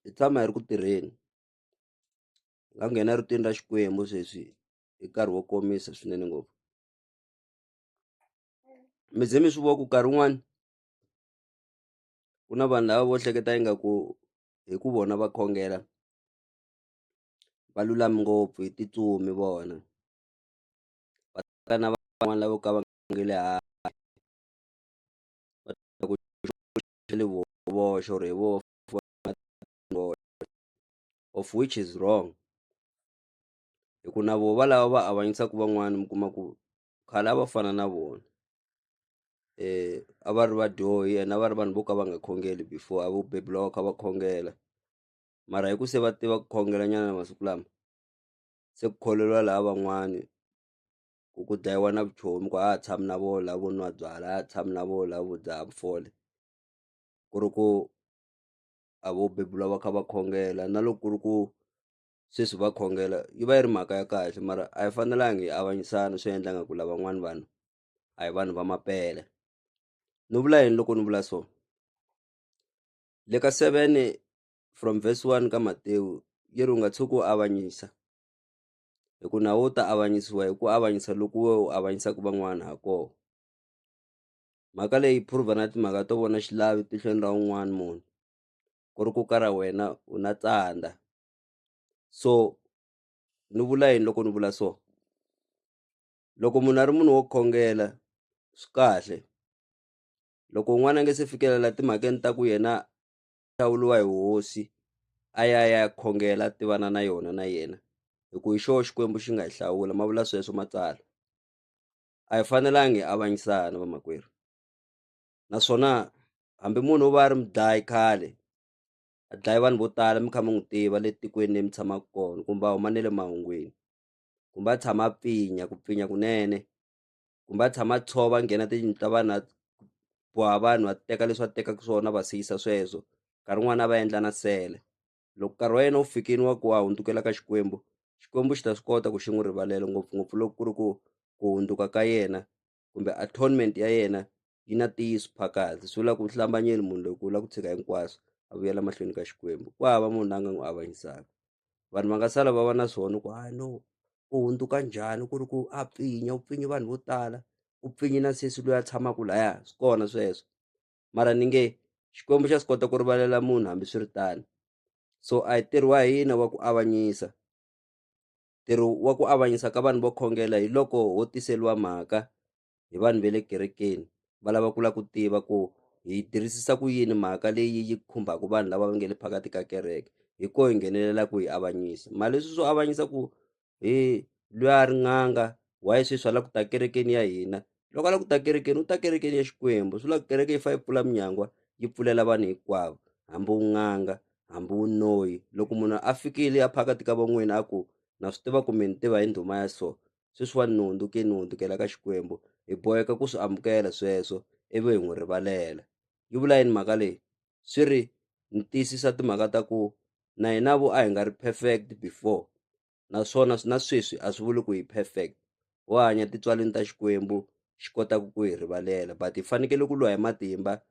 hi tshama hi ri ku tirheni hi nga nghena rutini ra Xikwembu sweswi hi nkarhi wo komisa swinene ngopfu mi ze mi swi vona ku nkarhi wun'wani ku na vanhu lava vo hleketa ingaku hi ku vona va khongela va lulami ngopfu hi titsumi vona va na van'wana lavo ka va. nge le voxe or hi voho of which is wrong hi ku na voho va lava va avanyisaka van'wani mi kuma ku khale a va fana na vona a va ri vadyohi and a va ri vanhu vo ka va nga khongeli before a vo beburiwa va kha va khongela mara hi ku se va tiva ku khongela nyana masiku lama se ku kholelwa laha van'wani. ku ku dlayiwa na vuchomi ku a ha tshami na vona lavo nwa byalwa a ha tshami na vona lavo dzaha vufole ku ri ku a vo bebula va kha va khongela na loko ku ri ku sweswi va khongela yi va yi ri mhaka ya kahle mara a yi fanelanga hi avanyisana swi endla nga ku lavan'wana vanhu a hi vanhu va mampela ni vula yini loko ni vula so le ka seven from verse one ka Matewu yi ri u nga tshuki u avanyisa hi ku na wo ta avanyisiwa hi ku avanyisa loko we u avanyisaka van'wana ha kona mhaka leyi prove na timhaka to vona xilavi tihlweni ra un'wana munhu ku ri ku ka ra wena u na tsandza so ni vula yini loko ni vula so loko munhu a ri munhu wo khongela swi kahle loko un'wana a nge se fikelela timhakeni ta ku yena hlawuriwa hi hosi a ya ya khongela a tivana na yona na yena hi ku hi xoho xikwembu xi nga hi hlawula ma vula sweswo matsalwa a hi fanelangi hi avanyisana vamakwerhu naswona hambi munhu u va a ri mudlayi khale a dlaye vanhu vo tala mi kha mi n'wi tiva le tikweni leyi mi tshamaka kona kumbe a huma ne le mahungwini kumbe a tshama a pfinya ku pfinya kunene kumbe a tshama a tshova a nghena tiyindlu ta vanhu a boha vanhu a teka leswi va tekaka swona va siyisa sweswo nkarhi wun'wani a va endla na sele loko nkarhi wa yena wu fikini wa ku wa hundzukela ka Xikwembu Xikwembu xi ta swi kota ku xi n'wi rivalela ngopfungopfu loko ku ri ku ku hundzuka ka yena kumbe atonement ya yena yi na ntiyiso phakathi swi vula ku hlambanyeni munhu loko u lava ku tshika hinkwaswo a vuyela mahlweni ka xikwembu ku hava munhu la nga n'wi avanyisaka vanhu va nga sala va va na swona ku hayi no u hundzuka njhani ku ri ku a pfinya u pfinyi vanhu vo tala u pfinyi na sesi loyi a tshamaka laya swi kona sweswo mara ni nge xikwembu xa swi kota ku rivalela munhu hambi swi ri tano so a hi ntirho wa hina wa ku avanyisa ntirho wa ku avanyisa ka vanhu vo khongela hi loko ho tiseliwa mhaka hi vanhu va le kerekeni va lava ku lava ku tiva ku hi yi tirhisisa ku yini mhaka leyi yi khumbaka vanhu lava va nga le phakathi ka kereke hi ko hi nghenelela ku hi avanyisa mali leswi swo avanyisa ku hi loyi a ri n'anga why sweswi a lava ku ta kerekeni ya hina loko a lava ku ta kerekeni u ta kerekeni ya xikwembu swi lava kereke yi fa yi pfula minyangwa yi pfulela vanhu hinkwavo hambi u n'anga hambi u noyi loko munhu a fikile a phakathi ka van'wini a ku na swi tiva ku mi ni tiva hi ndhuma ya so sweswiwani ni hundzuke ni hundzukela ka Xikwembu hi boheka ku swi amukela sweswo ivi hi n'wi rivalela yi vula yini mhaka leyi swi ri ni tiyisisa timhaka ta ku na hina vo a hi nga ri perfect before naswona na sweswi a swi vuli ku hi perfect ho hanya titswaleni ta Xikwembu xi kotaka ku hi rivalela but hi fanekele ku lwa hi matimba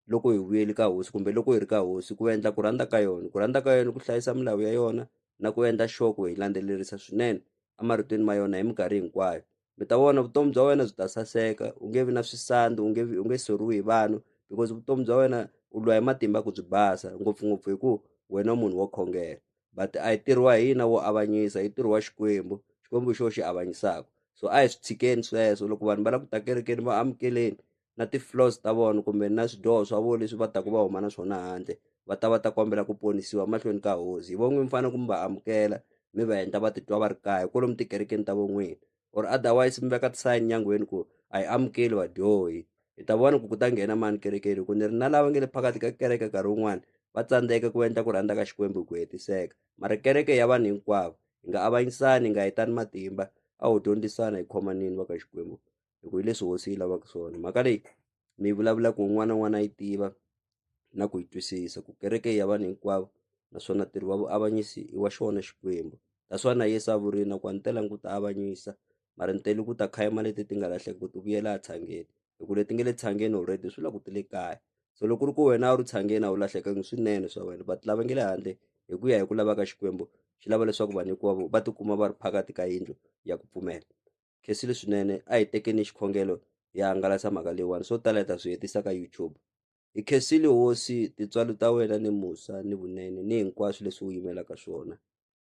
loko hi vuyeli ka hosi kumbe loko hi ri ka hosi ku endla ku rhandza ka yona ku rhandza ka yona ku hlayisa milawu ya yona na ku endla sure ku hi landzelerisa swinene emarhutweni ma yona hi minkarhi hinkwayo mi ta vona vutomi bya wena byi ta saseka u nge vi na swisandi u nge vi u nge soriwi hi vanhu because vutomi bya wena u lwa hi matimba ku byi basa ngopfungopfu hi ku wena munhu wo khongela but a yi tirhiwa hi hina wo avanyisa yi tirhiwa xikwembu xikwembu xo xi avanyisaka so a hi swi tshikeni sweswo loko vanhu va lava ku ta kerekeni va amukeleni na ti floors ta vona kumbe na swidyoho swa vona leswi va taka va huma na swona handle va ta va ta kombela ku ponisiwa mahlweni ka hosi hi von'wini mi fanele ku mi va amukela mi va endla va titwa va ri kaya hi kolomu tikerekeni ta von'wini or otherwise mi veka tisayini nyangweni ku a hi amukeli vadyohi hi ta vona ku ku ta nghena mani kerekeni ku ni ri na lava nge le phakathi ka kereke nkarhi wun'wana va tsandzeka ku endla ku rhandza ka xikwembu hi ku hetiseka mara kereke ya vanhu hinkwavo hi nga avanyisani hi nga hetani matimba a ho dyondzisana hi khomanini va ka xikwembu hi ku hi leswi hosi yi lavaka swona mhaka leyi mi yi vulavulaka un'wana na un'wana a yi tiva na ku yi twisisa ku kereke ya vanhu hinkwavo naswona ntirho wa vuavanyisi i wa xona xikwembu that's why na yesu a vurile na ku a ni telanga ku ta avanyisa mara ni tele ku ta khayima leti ti nga lahleki ku ti vuyela a tshangeni hi ku leti nge le tshangeni already swi la ku ti le kaya so loko ri ku wena a wu ri tshangeni a wu lahlekangi swinene swa wena but lava nge le handle hi ku ya hi ku lava ka xikwembu xi lava leswaku vanhu hinkwavo va tikuma va ri phakathi ka yindlu ya ku pfumela Khensile swinene a hi tekeni xikhongelo hi hangalasa mhaka leyiwani swo tala hi ta swi hetisa ka YouTube hi khensile hosi tintswalo ta wena ni musa ni vunene ni hinkwaswo leswi wu yimelaka swona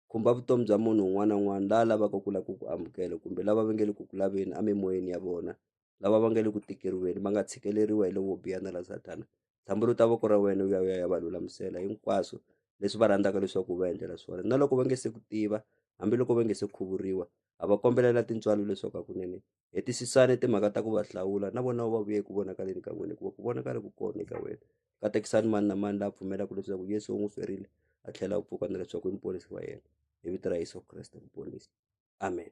khumba vutomi bya munhu un'wana na un'wana la lavaka ku lava ku ku amukela kumbe lava va nge le ku ku laveni emimoyeni ya vona lava va nge le ku tikeriweni va nga tshikeleriwa hi lovo biha na la sathana dyambu ri ta va ku ri ra wena u ya u ya ya va lulamisela hinkwaswo leswi va rhandzaka leswaku u va endlela swona na loko va nge se ku tiva hambiloko va nge se khuvuriwa a va kombelela tintswalo leswaku hakunene hetisisani timhaka ta ku va hlawula na vona va vuye ku vonakaleni ka n'wina hikuva ku vonakale ku kona eka wena katekisani mani na mani la pfumelaka leswaku yesu u n'wi ferile a tlhela u pfuka na leswaku i muponisi wa yena hi vito ra yesu kreste muponisi amen